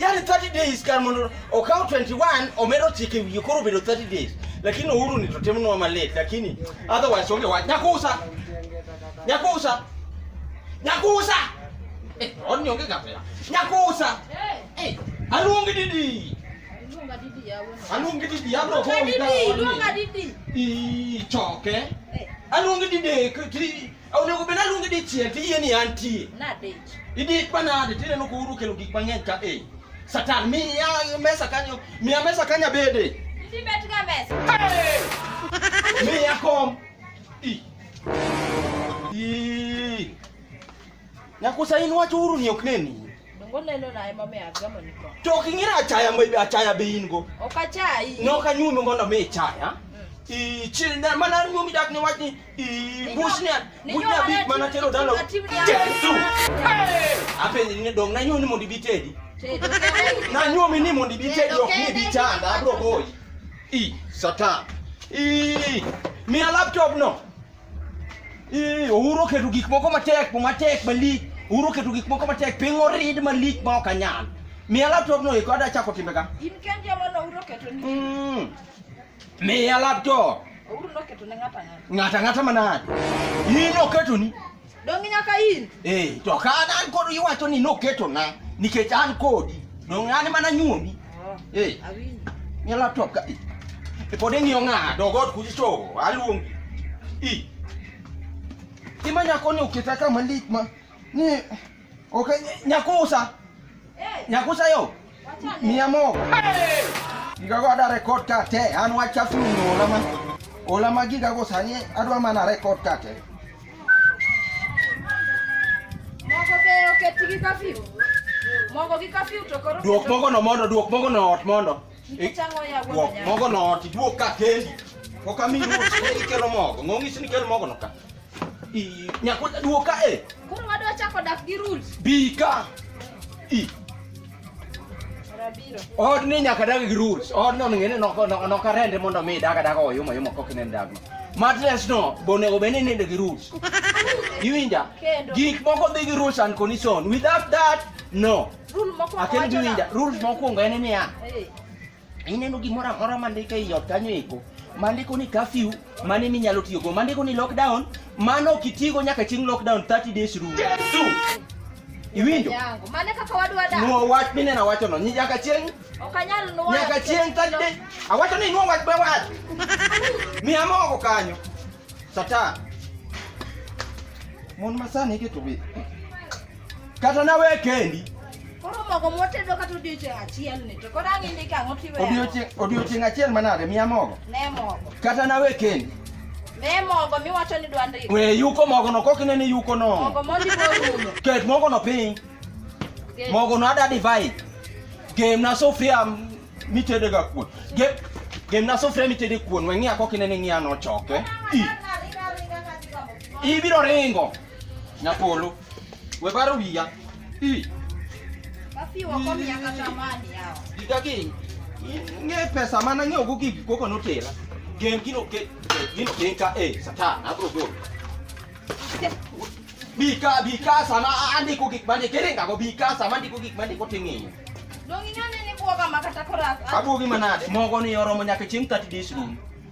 yani 30 days kan mondo okaw 21 omedo chike wiye koro obedo 30 days lakini uhuru ni totemnwa malate lakini otherwise onge wach nyakusa nyakusa nyakusa eh, onni onge kapela nyakusa eh, aluongi didi Luonga didi yawe. Aluongi didi yabro ko. Luonga didi, luonga didi. I choke. Eh. Aluongi didi ti onego bed aluongi dichiel ti yie ni antie. Nadich. Idi panade tineno ko uru kelo gik mang'eny ka eh. Satan miya mesa kanyo, miya mesa kanya bede. Idi bet ga mesa. Hey! miya kom. I. I. Nyakusa in wacho uru ni ok neni. Dongo neno na ema me agamo ni ko. To ok ing'era achaya ma achaya be in go. Ok achayi. Ne ok anyuomi mondo mi ichaya. Mm. I chil na mana nyuomi dak ni wach ni i bush ne bush na bit mana tero dalo. Jesu. Apenji ni dong na nyuomi mondo ibi tedi. Na nyuomi ni mondo ibi tedi ok ni bi chanda abro goyi. I satan. I mi laptop no. Ee, ouru oketo gik moko matek, po matek malich. Ouru oketo gik moko matek, piny orid malich ma ok anyal. Miya laptop no eko ada chako timbe ka. In kendi ema ne ouro keto ni. Mm. Miya laptop. Ouro noketo ne ng'ato ang'ata. Ng'ata ng'ata manade. In oketoni. Donge nyaka in? Eh, to ka an kod iwacho ni noketo na nikech an kodi. Donge an mana nyuomi. Oh, eh. Awinjo. Ni laptop ka. E pod ing'iyo ng'a dogot kuji to aluongi. I. Ima nyako ni oketa kama lit ma ni Okay, nyakusa. Hey. Nyakusa yo. Mia mo. Hey. Giga go ada record ka te an wacha fulu no lama. Ola ma giga go sani adwa mana record ka te. Mogo be oketigi kafiu. Mogo gi kafiu to koro. Duok mogo no mondo, duok mogo no ot mondo. Mogo no oti duo ka kendi. Oka mi ruo ikelo mogo. Ng'ongi sini kel mogo no ka. I nyako duo ka e. Koro wadwa chako dak gi rules. Bi ka. I. Od ni nyaka dag gi rules. Od no ngene no no ka rende mondo mi daga daga oyuma yuma kokinen dag no. Matres no bonego bene nende gi rules. Iwinja? Gik moko dhi gi rules and condition. Without that, no. akendiwinja rules mokwongo en niya ineno gimoro amora mandike ei ot kanyo eko mandiko ni kafyu mane minyalo tiyogo mandiko ni lockdown mano ok itigo nyaka chieng' lockdown 30 days rule iwinjo nuo wach mineno awachono ni nyaka chieng' nyaka chieng' 30 days awacho ni nuo wach be wach miya mogo kanyo satan mon masani iketo bith Kata na we kendi. Koro mogo motedo kata odiochieng' achiel ni to koro ang'e ndika ang'o tiwe. Odiochieng' odiochieng' achiel manade miya mogo. Ne mogo. Kata na we kendi. Ne mogo miwacho ni dwa ndiko. We yuko mogo no kok inene yuko no. Mogo mondi morumo. Ket mogo no piny. Mogo no ada divai. Gem na sofia mitede ga kuon. Gem gem na sofia mitede kuon. We ng'iya kok inene ng'iya no choke. Ibiro ringo. Nyapolo. We baro wiya. Ii. Basi wako miaka tamani hao. Giga gini. Ng'e pesa mana ng'eyo go gigi koko notera. Gen gino ke gino ke ka e satan abro go. Bika bika sama andi ko gik mane kere ngago bika sama andi ko gik mane ko ting'e. Dongi nane ni buoga makata korak. Abuogi manade mogo ni oromo nyaka chieng' 30 days room.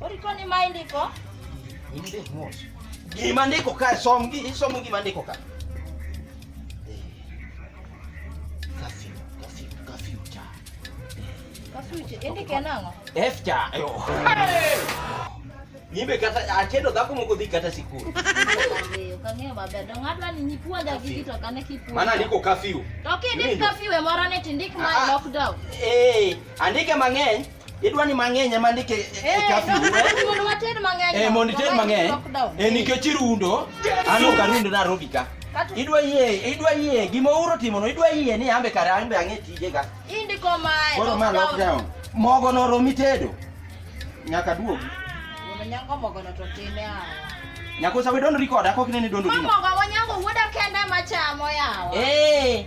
Oriko ni ma indiko? Indik mos. Gima ndiko ka som gi isomo gima ndiko ka. Kafiu, kafiu, kafiu cha. Kafiu cha. Indike nang'o? F cha. Yo. Nyimbe kata achedo dhako moko dhi kata sikul. Kang'eyo maber. Dong adwa ni nyipuonja gi gito kane kipuonja. Mana ndiko kafiu. To kindik kafiu e moro ne tindik ma ah, ah. lockdown. Eh, andike mang'eny. Idwa ni mang'eny ema ndike e, e, e kafi. Eh, mondo wated mang'eny. Eh, mondo ited mang'eny. Eh, nikech irundo, an ok arundo na robi ka. Idwa yie, idwa yie gima uro timo no, idwa yie ni ambe kare ambe ang'e tije ga. Indiko mae. Koro ma lockdown. Mogo no romi tedo. Nyaka duogi. Nyango mogo no to tine a. Nyako sa we don't record, akok ne ni dondo dino. Mogo wanyango wuoda kende machamo yawa. Eh.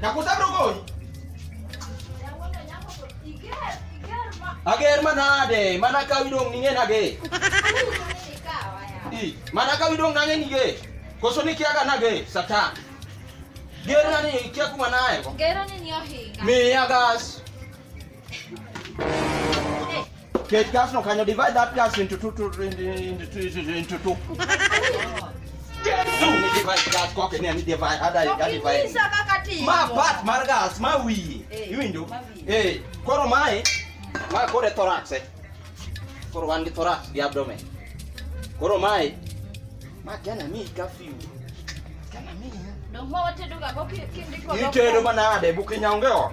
Nakutabrogoy. Ager manade, mana ka widong ninge nage. I, mana ka widong nage nige. Koso ni kiaga nage, satan. Gerna ni kia kuma nae. Gerna ni yohi. Mi agas. Kate gas no, can you divide that gas into two, two, into, into, into, into two? mabat mar gas ma wiye iwinjo eh koro mae ma koro e thorax eh koro wan gi thorax gi abdomen koro mae ma gana mi ka fiu gana mi itedo manade bukinyaonge ot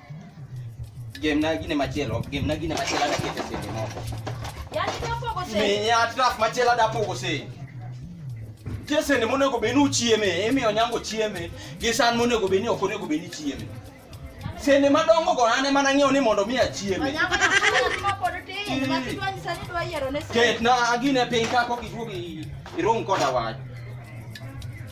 Game na gine machielo, game na gine machielo na kete sende moko. Yaani ndio pogo sende. Mimi ya traf machielo da pogo sende. Tie sende monego be ni uchieme, emi onyango chieme, gi san monego be ni ok onego be ni chieme. Sende madongo go ane mana ng'eyo ni mondo mi achieme. Onyango na kama pod tin, ma kitwa nyisa ni dwa yiero ne sende. Ket na agine piny ka kok iduogi irong koda wach.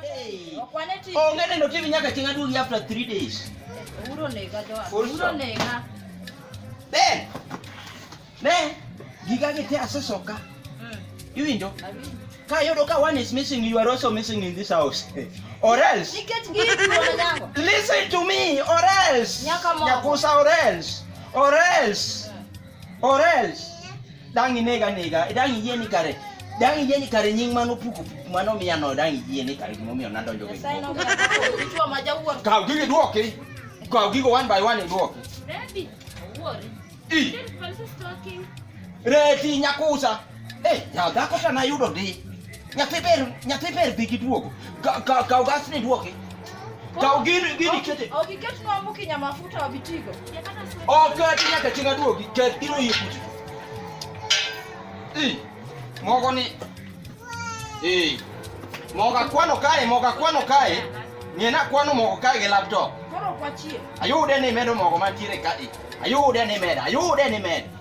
Hey. Onge neno TV nyaka chieng' aduogi after 3 days. Uro nega jo. Uro nega. Ben. Ne. Giga gite asesoka. Mm. Iwinjo? Ka yudo ka one is missing you are also missing in this house. Or else. Listen to me or else. Nyakusa or else. Or else. Or else dang inega nega, dang iyie ni kare dang iyie ni kare nying mano puko puko mano miya no dang iyie ni kare gimomiyo nadonjo gi. Kaw gigi duoki. Kaw gigo one by one duoki. Ready. Worry. I. Reti nyakusa. Eh, ya dhako to nayudo ndi. Nyathi ber, nyathi ber dhi gi duogo. Ka ka ka gas ni duogi. Ka gini gini kete. Ogi ket no amuki nya mafuta wa bitigo. O ka ti nyaka chinga duogi, ket iro yi kuti. Eh. Mogo ni. Eh. Moga kwano kae, moga kwano kae. Ni na kwano mogo kae gi laptop. Koro kwachie. Ayude ni medo mogo mantiere ka. Ayude ni medo, ayude ni medo.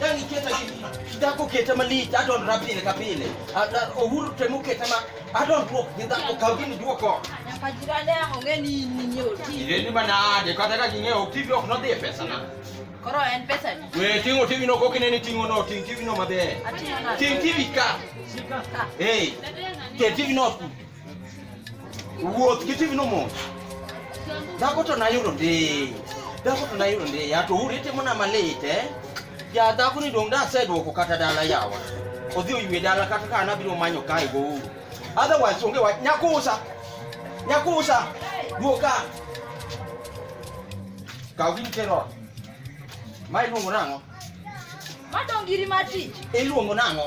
Dani keta kidako keta malich adon rapile ka pile. Ohuru temo keta ma adon duok gi dhako kaw gini duoko. Nyaka jirani ang' ong'e ni in ning'e oti. Ireni manade kata ka ging'eyo ok TV ok nodhi e pesana. Koro en pesa ni. We ting'o TV no kokine ni ting'o no ting' TV no maber. Ating'o nade? Ting' TV ka. Ka. Hey. Ke TV no. Wuoth giti vino mos. Dhako to nayudo ndi. Dhako to nayudo ndi. Ya to uri timo na malit eh. Ya dhako ni dong da sedwoko kata dala yawa. Odhi oywe dala kata ka anabiro manyo kae go uru. Otherwise onge wach nyakusa. Nyakusa. Duoka. Kaw gini tero. Ma iluongo nang'o? Madong giri matich. Iluongo nang'o?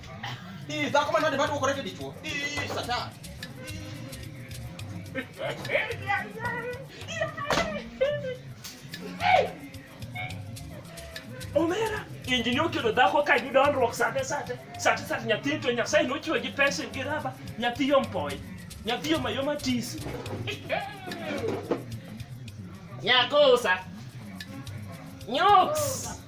Ii, za kuma nani batu ukoreke dichuo. Ii, sata. Omera, injinio kido dhako ka yudo onruok sate sate. Sate sate nyathi to nyasaye nochwe gi pesa gi raba. Nyathi yo mpoy. Nyathi yo mayoma tisi. Nyakosa. Nyoks.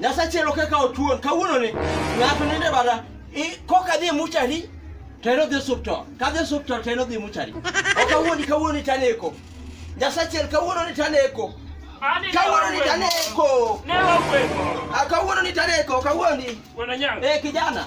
Nyasachielo kaka otuon kawuono ni ng'ato nende bada koka dhi muchari to en odhi osuptal ka dhi osuptal to en odhi muchari okawuoni kawuoni taneko Nyasachiel kawuono ni taneko kawuono ni taneko ah, kawuono ni taneko kawuoni eh kijana